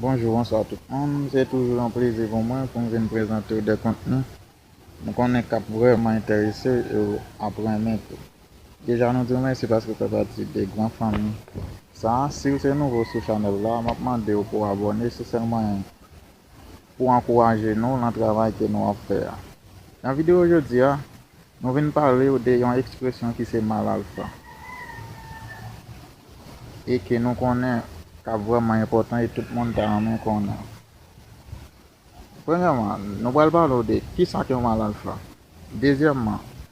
Bonjou bonswa tout moun se toujou yon plezi pou mwen poum vin prezante w de kontni m konnen kap vrèman entèrese w e w ap renmen tou deja nou di w mèsi paske w fè pati de gran fanmi sa siw se nouvo sou chanèl la map mande w pou w abòne se sèl mwayen pou ankouraje nou lan travay ke nou ap fè a. Nan videyo jodi a, nou vin pale w de yon ekspresyon ki se malalfa e ke nou konnen kap vrèman enpòtan e tout moun ta renmen konnen. Premyèman, nou pral pale w de kisa k yon malalfa. Dezyèman,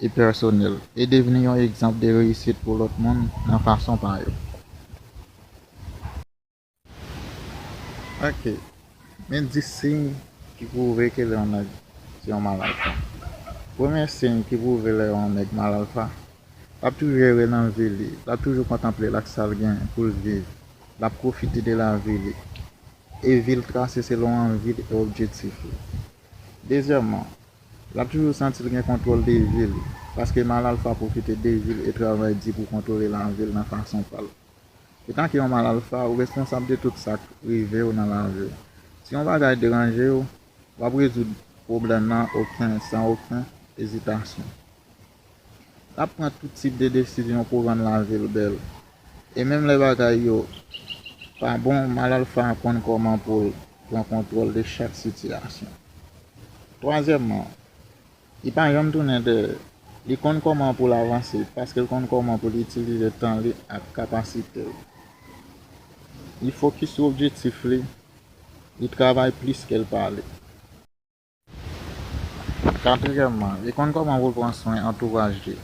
e pèsonèl, e devni yon egzanp de reyisit pou lòt moun nan fason pa yo. Oke, men 10 siy ki pwouve ke lè yon nèg se yon mal alfa. Premye siy ki pwouve lè yon nèg mal alfa, l ap toujou ere nan vi li, l ap toujou kontanple l ak sa l gen pou l viv, l ap pwofite de lavi li, e vi l trase selon anvi l e objektif li. Dezyèman, l ap toujou santi l gen kontwòl de vi l, paske mal alfa pwofite de vi l e travay di pou kontwole lavi l nan fason pa l. Etanke yon mal alfa, ou responsab de tout sa k rive w nan lavi w. Si yon bagay deranje w, w ap rezoud pwoblèm nan oken san oken ezitasyon. L ap pran tout tip de desizyon pou rann lavi l bèl. E menm lè bagay yo pa bon, Malalfa konn kòman pou l pran kontwòl de chak sitiyasyon. Twazyèmman, li pa janm tounen dèyè. Li konn kòman pou l avanse paske l konn kòman pou l itilize tan li ak kapasite l. Li fokis sou objektif li, li travay plis ke l pale. Katriyèmman, li konn kòman pou l pran swen antouraj li.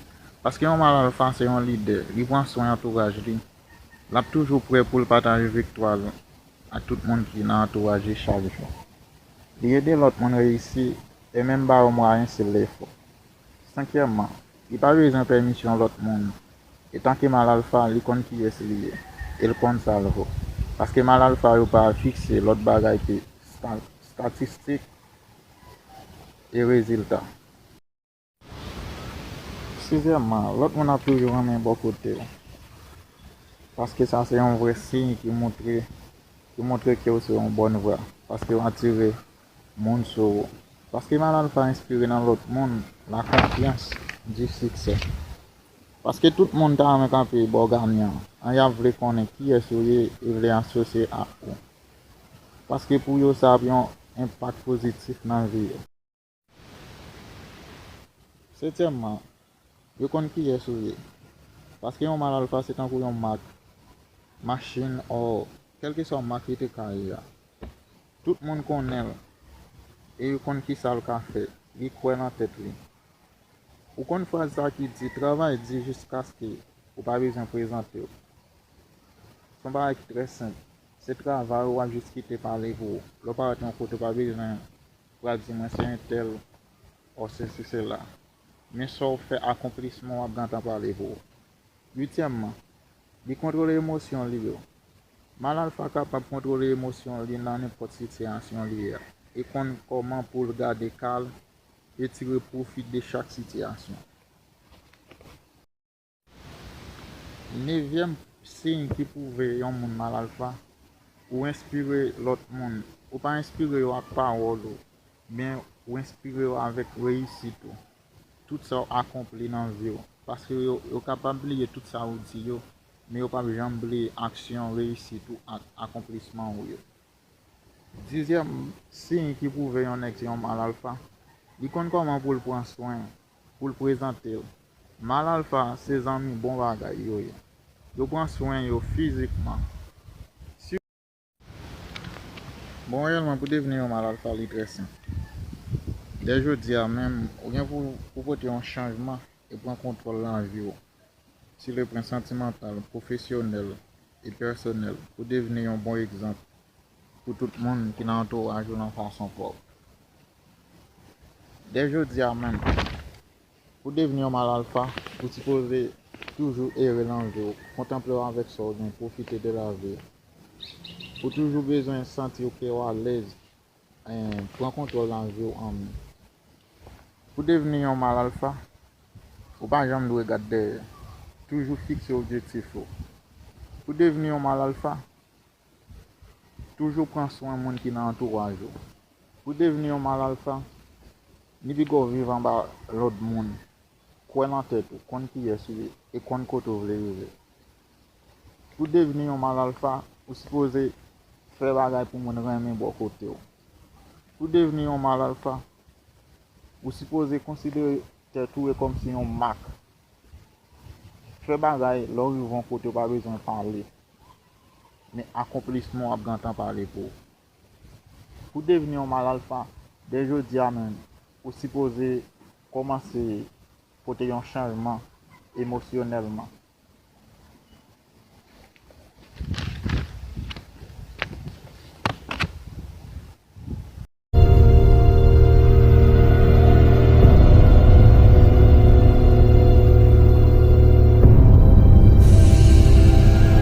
Paske yon mal alfa se yon lidè, li pran swen antouraj li. L ap toujou prè pou l pataje viktwa l ak tout moun ki nan antouraj li chak jou. Li ede lòt moun reyisi e menm ba yo mwayen si l defo. Senkyèmman, Li pa bezwen pèmisyon lòt moun. Etanke mal alfa, li konn kiyès li ye e l konn sa l vo. Paske mal alfa yo pa fikse lòt bagay ke statistik e rezilta. Sizyèmman, lòt moun ap toujou renmen bò kote w. Paske sa se yon vrè siy ki montre ki montre ke w se yon bòn vwa. Paske w atire moun sou ou. Paske Mal Alpha enspire nan lòt moun lakonfyans, du succès. Paske tout moun ta renmen kanpe bò ganyan an, y ap vle konnen kiyès ou ye e vle asosye ak ou. Paske pou yo sa ap yon enpak pozitif nan vi yo. Setyèmman, Yo konn kiyès ou ye. Paske yon mal alfa se tankou yon mak machin or kèlkeswa mak li te ka ye a. Tout moun konnen l e yo konn kisa l ka fè. Li kwè nan tèt li. Ou konn fraz sa ki di travay di jiskaske ou pa bezwen prezante w. S on bagay ki trè senp. Se travay ou a jis kite pale pou ou. Lè w parèt yon kote ou pa bezwen pral di mwen se entèl or sesi sela. Men sa w fè akonplisman w ap gentan pale pou ou. Uityèmman, li kontwole emosyon li yo. Mal alfa kapab kontwole emosyon li nan nenpòt sitiyasyon li ye a e konn kòman pou l gade kalm e tire pwofi de chak sitiyasyon. Nevyèm siy ki pwouve yon moun mal alfa, ou enspire lòt moun. Ou pa enspire yo ak pawòl ou, men ou enspire yo avèk reyisit ou, tout sa ou akonpli nan vi ou. Paske yo kapab bliye tout sa ou di yo, men yo pap janm bliye aksyon, reyisit ou ak akonplisman ou yo. Dizyèm siy ki pwouve yon nèg se yon mal alfa, li konn kòman pou l pran swen pou l prezante l. Mal alfa se zanmi bon bagay yo ye. Yo pran swen yo fizikman. Si. Bon reyèlman pou devni yon mal alfa li trè senp. Dè jodi a menm ou gen pou ou pote yon chanjman e pran kontwòl lanvi w si le pren santimantal, pwofesyonèl e pèsonèl pou devni yon bon egzanp pou tout moun ki nan antouraj ou nan fason pa w. Dè jodi a menm, pou devni yon mal alfa, ou sipoze toujou ere lan vi w, kontanple w avèk sa w gen, pwofite de lavi. Ou toujou bezwen santi w ke w alèz, pran kontwòl lan vi w an men. Pou devni yon mal alfa, ou pa janm dwe gad dèyè. Toujou fikse objektif ou. Pou devni yon mal alfa, Toujou pran swen moun ki nan antouraj ou. Pou devni yon mal alfa, li pi gò viv anba lòd moun, kwè nan tèt ou, konn kiyès ou ye, e konn kote ou vle rive. Pou devni yon mal alfa, ou sipoze fè bagay pou moun renmen bò kote ou. Pou devni yon mal alfa, ou sipoze konsidere tèt ou e kòm se yon mak. Fè bagay lè w rive yon kote ou pa bezwen pale. Men akonplisman w ap gentan pale pou ou. Pou w devni yon mal alfa, dè jodi a menm, ou sipoze kòmanse pote yon chanjman emosyonèlman.